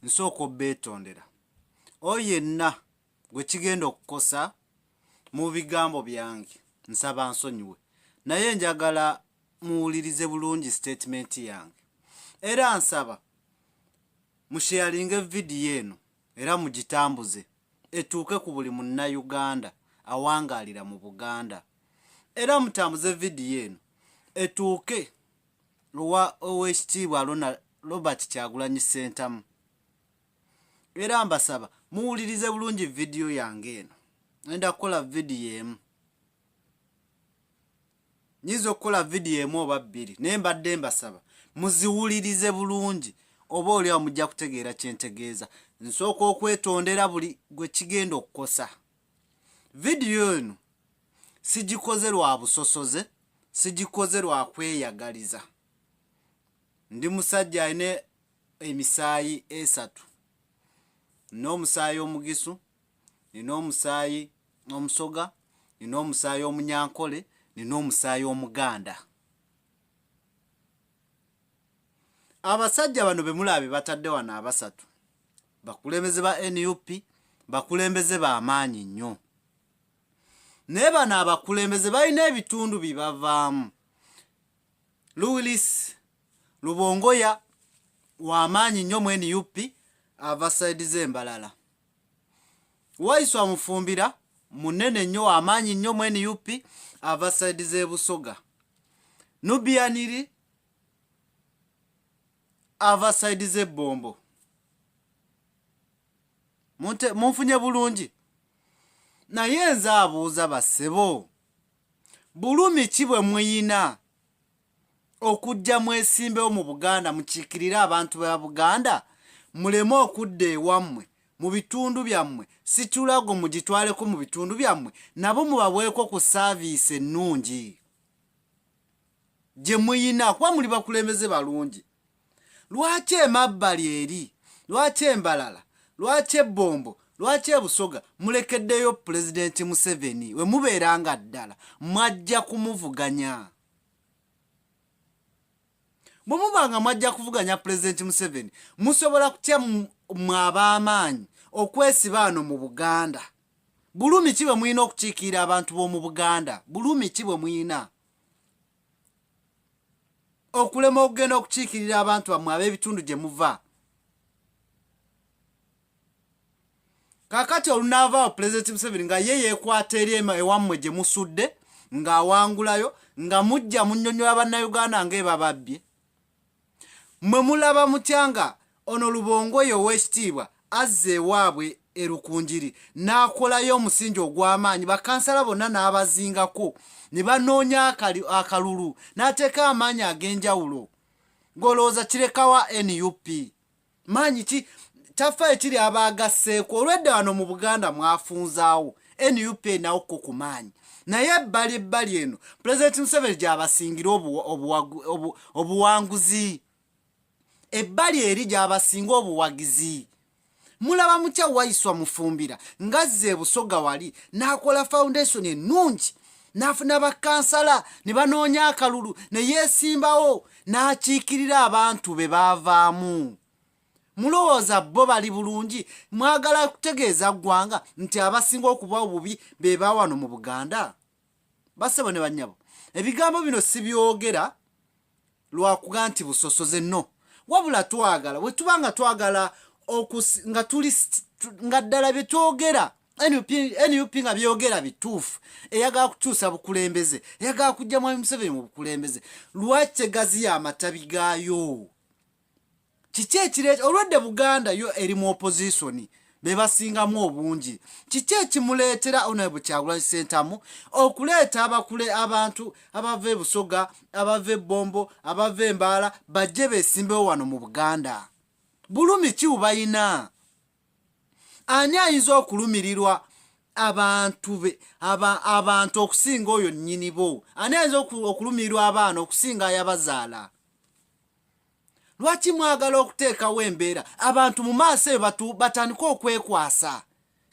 nsooka obbeetondera oyo yenna gwe kigenda okukosa mu bigambo byange nsaba nsonyiwe naye njagala muwulirize bulungi sitatimenti yange era nsaba musheyalinge vidiyo eno era mugitambuze etuuke ku buli munnayuganda awangaalira mu buganda era mutambuze vidiyo eno etuuke lwa owekitiibwa Ronald Robert Kyagulanyi Ssentamu era mbasaba muwulirize bulungi vidiyo yange eno enda kukola vidiyo emu nyinza okukola vidiyo emu oba bbiri naye mbadde mbasaba muziwulirize bulungi oba oliawo mujja kutegeera kyentegeeza nsooka okwetondera buli gwe kigenda okukosa vidiyo eno sigikoze lwa busosoze sigikoze lwa kweyagaliza ndi musajja alina emisaayi esatu nina omusaayi omugisu nina omusaayi omusoga nina omusaayi omunyankole nina omusaayi omuganda abasajja bano bemulaba bebatadde wano abasatu bakulembeze ba nup bakulembeze bamaanyi nnyo naye bano abakulembeze balina ebitundu bibavaamu louis lubongoya wamaanyi nnyo mu nup ava saidi zembalala waiswa mufumbira munene nnyo wamaanyi nnyo mu nup ava saidi zebusoga nubianiri ava sayidi z'ebbombo munfunye bulungi naye nze abuuza bassebo bulumi ki bwe muyina okujja mwesimbewo mu buganda mukiikirire abantu ba buganda muleme okudda ewammwe mu bitundu byammwe sikirago mugitwaleko mu bitundu byammwe nabo mubabweko ku saaviisi ennungi gye muyina kuba muli bakulembeze balungi lwaki emabbali eri lwaki embalala lwaki ebbombo lwaki ebusoga mulekeddeyo pulezidenti museveni we mubeera nga ddala mwajja kumuvuganya bwe muba nga mwajja kuvuganya pulezidenti museveni musobola kutya mwe ab'amaanyi okwesiba ano mu buganda bulumi ki bwe mulina okukiikirira abantu b'omu buganda bulumi ki bwe mulina okulema okugenda okukiikirira abantu bammwe ab'ebitundu gye muva kakati olunaavaawo pulezidenti museveni nga ye yeekwata eri ewammwe gye musudde ng'awangulayo nga mujja munyonyola bannayuganda ng'ebababbye Mmwe mulaba mutya nga ono Lubongoya ow'ekitiibwa azze ewaabwe e Rukungiri n'akolayo omusingi ogw'amaanyi bakansala bonna n'abazingako ne banoonya akalulu n'ateeka amaanyi ag'enjawulo ng'olowooza kirekawa nup? maanyi ki tafa ekiri abaagasseeko olwedda wano mu buganda mwafunzaawo nup nawo ko ku maanyi naye ebbali ebbali eno pulezidenti museveni gyabasingira obuwanguzi ebbali eri gyabasinga obuwagizi mulaba mukya waiswa mufumbira ngazze ebusoga wali n'akola foundation ennungi n'afuna bakansala ne banoonya akalulu ne yeesimbawo n'akiikirira abantu be baavaamu mulowooza bo bali bulungi mwagala kutegeeza ggwanga nti abasinga okuba obubi be bawano mu buganda basebo ne bannyabo ebigambo bino sibyogera lwakuga nti busosoze no wabula twagala wetuba nga twagala nga tuli nga ddala byetwogera nup nga byogera bituufu eyagala kukyusa bukulembeze eyagala kujja mwami museveni mu bukulembeze lwaki tegaziya amatabi gaayo kiki ekireeta olwedde buganda yo eri mu opozisoni be basingamu obungi kiki ekimuleetera onaibu kyagulanyi sentamu okuleeta abakule abantu abava ebusoga abava ebbombo abava embaala bajje besimbewo wano mu buganda bulumi ki bubalina ani ayinza okulumirirwa abantu be abantu okusinga oyo nnyini bo ani ayinza okulumirirwa abaana okusinga ayabazaala lwaki mwagala okuteekawo embeera abantu mu maaso eyo batu batandike okwekwasa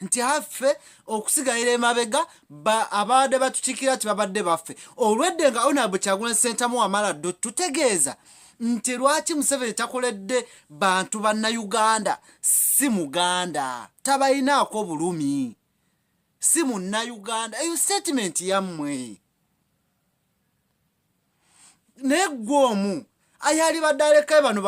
nti affe okusigalira emabega abaabadde batukiikira nti babadde baffe olwedde nga onab kyagulanyi sentamu wamala ddo tutegeeza nti lwaki museveni takoledde bantu bannayuganda si muganda tabalinaako bulumi si munnayuganda eyo sitatimenti yammwe naye gwe omu ayalibadde alekayo bano